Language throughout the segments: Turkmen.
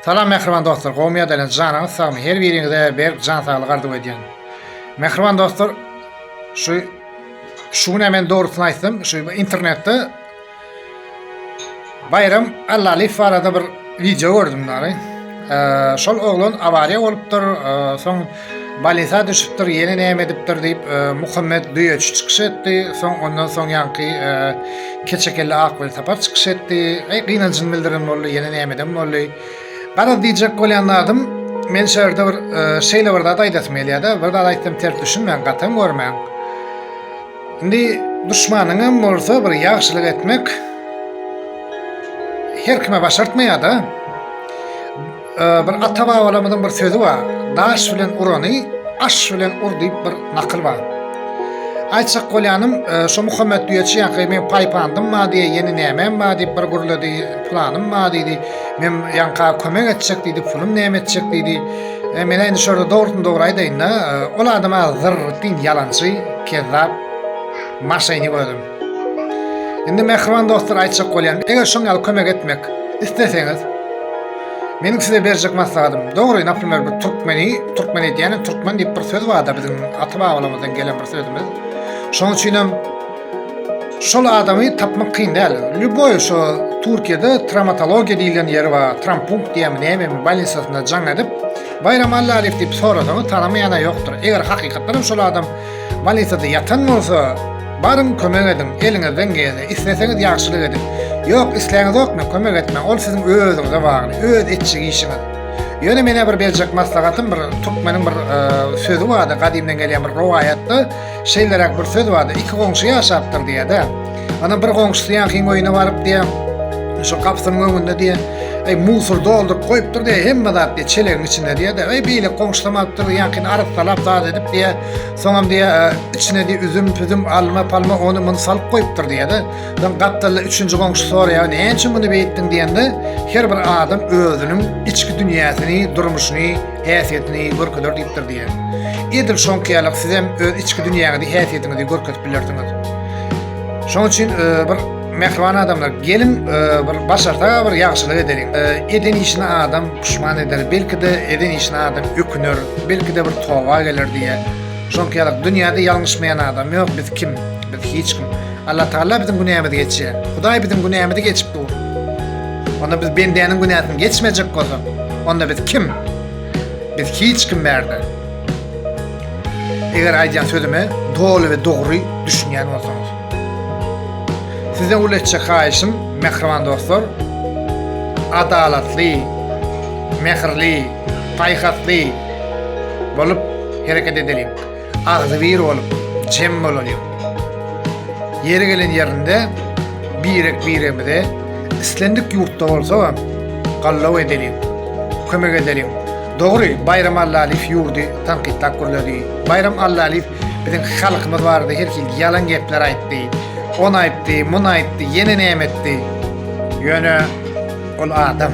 Salam mähriban dostlar gowmy ýa-da ýalan janyňyz sagmy her biriňize berk jan saglyk arzuw edýän. Mähriban dostlar şu şu güne men dogrusyny aýtsam şu internetde Bayram Allaliýew barada bir wideo gördüm dary. Ee, şol oglan awariýa bolupdyr, ee, soň Balesa düşüpdir, ýene näme edipdir diýip, Muhammet Düýeçi çykyş etdi. Soň ondan soň ýaňky keçekelle Akwelsapar çykyş etdi. Eý, gynanjyny bildiren boldy, ýene näme eden boldy. Garaz, diýjek bolýan zadym, men şu ýerde bir şeýle bir zat aýdasym gelýär-de, bir zat aýtsam ters düşünmäň, gatam görmäň. Indi duşmanyňam bolsa bir ýagşylyk etmek her kime başartmaýar-da. Bir ata-babalarymyzyň bir sözi bar, Daş bilen urany aş bilen ur diýip bir nakyl bar. Aýtjak bolýanym, şu Muhammet düýeçi ýaňky men paýpandym bar diýip, ýene nämem bar diýip bir gürledi, planym bar diýdi. Men ýaňka kömek etjek diýdi, pulum näme etjek diýdi. Men indi şurada dogrudan dogry aýdaýyn-da, ol adam az zyrrtyň ýalançy, kezzap, maşenik özüm. Indi mähriban dostlar aýtjak bolýan, eger şoň ýaly kömek etmek isleseňiz, meniň size berjek maslahatym, dogry, naprimer, bu türkmeni, türkmen edýäni, türkmen diýip bir söz bar-da biziň ata-babalarymyzdan gelen bir sözümiz. Şoň üçin hem şol adamy tapmak kyn däl. Lýuboý şu Türkiýede travmatologiýa diýlen ýeri bar, trampunkt diýýärmi, nämemi, bolnisasynda jaň edip, Baýram Allalyýew diýip sorasaňyz, tanamaýan-a ýokdur. Eger hakykatdan hem şol adam Balitada ýatan bolsa, baryň kömek ediň, eliňizden gelse, isleseňiz ýagşylyk ediň. Ýok, isläňizokmy, kömek etmäň, ol siziň özüňize bagly, öz etjek işiňiz. Ýöne menä bir berjek maslahatym, bir türkmeniň bir e, sözi bardy, gadymdan gelýän bir rowaýatda şeýleräk bir söz bardy, iki goňşy ýaşapdyr diýýär-de. Ana bir goňşusy ýankyň öýüne baryp diýýär. Şu gapysynyň öňünde diýýär. Eý, musur dolduryp goýupdyr diýýär. Hemme zat diýýär çelegiň içinde diýýär-de. Eý, beýle goňşusam alypdyr, ýankyny arassalap zat edip diýýär. Soňam diýýär, içine diýýär üzüm, püzüm, alma, palma, ony, muny salyp goýupdyr diýýär-de. Soň gapdalda üçünji goňşy soraýar, näme üçin muny beýtdiň diýende, her bir adam özüniň içki dünýäsini, durmuşyny, häsiýetini görkezer diýipdir diýýär. Edil şoňky ýaly-ak sizem öz içki dünýäňizi, häsiýetiňizi görkezip bilersiňiz. Şonuň üçin e, bir mehriban adamlar gelin e, bir başarsa bir ýagşylyk edelim. E, eden işine adam pişman eder. Belki de eden işine adam öküner. Belki de bir toba geler diye. Şonuň ýaly dünýäde ýalňyşmaýan adam ýok. Biz kim? Biz hiç kim. Allah Taala biziň günämizi geçýär. Hudaý biziň günämizi geçip dur. Onda biz bendäniň günäsini geçmejek bolsak, onda biz kim? Biz hiç kim bärde. Eger aýdýan sözüme doly we dogry düşünýän bolsaňyz. Sizden uly etjek haýyşym, mähriban dostlar, adalatly, mähirli, paýhasly bolup hereket edeliň. Agzybir bolup, jem bolalyň. Ýeri gelen ýerinde birek-biregimize islendik ýurtda bolsa gallaw edeliň, kömek edeliň. Dogry, Baýram Allalyýew ýurdy tankytlap gürledi. Baýram Allalyýew biziň halkymyz barada her hili ýalan gepler aýtdy. Ony aýtdy, muny aýtdy, ýene näme etdi. Ýöne ol adam.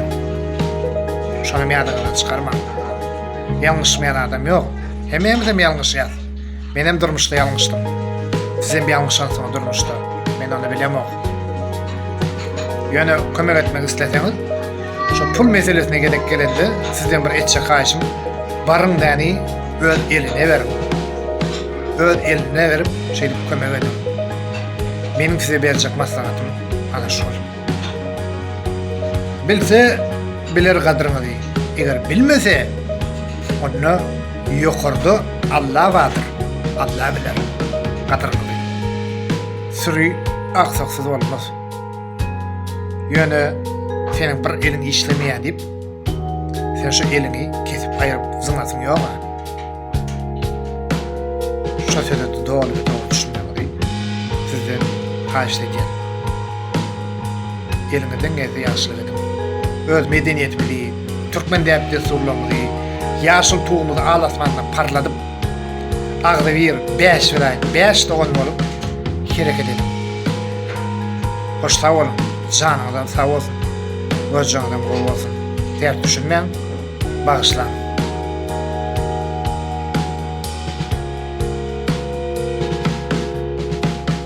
Şonam ýadyňyzdan çykarmaň. Ýalňyşmaýan adam ýok. Hemmämizem ýalňyşýas. Menem durmuşda ýalňyşdym. Sizem ýalňyşansyňyz durmuşda. Men ony bilemok. Ýöne kömek etmek isleseňiz, şu pul meselesine gelip gelende sizden bir etjek haýyşym, baryň däni öz eline beriň. Öz eline berip, şeýdip kömek ediň. Meniň size berjek maslahatym ana şol. Bilse, biler gadryňyzy. Eger bilmese, onda ýokarda Alla bardyr. Alla biler gadryňyzy. Süri aksaksyz bolmaz. Ýöne seniň bir eliň işlemeýär diýip, sen şu eliňi kesip aýryp zyňasyň ýog-a. Şosede doly we dogry düşünmegiňizi sizden haýyşt edýärin. Eliňizden gelse ýagşylyk ediň. Öz medeniýetimizi, türkmen däp-dessurlarymyzy, ýaşyl tugumyzy al asmanda parladyp, agzybir, bäşbiraýat, bäş dogan bolup hereket ediň. Hoş sag boluň, janyňyzam sag bolsun, gojaňyzam gowy bolsun. Ters düşünmäň. Bagyşlaň.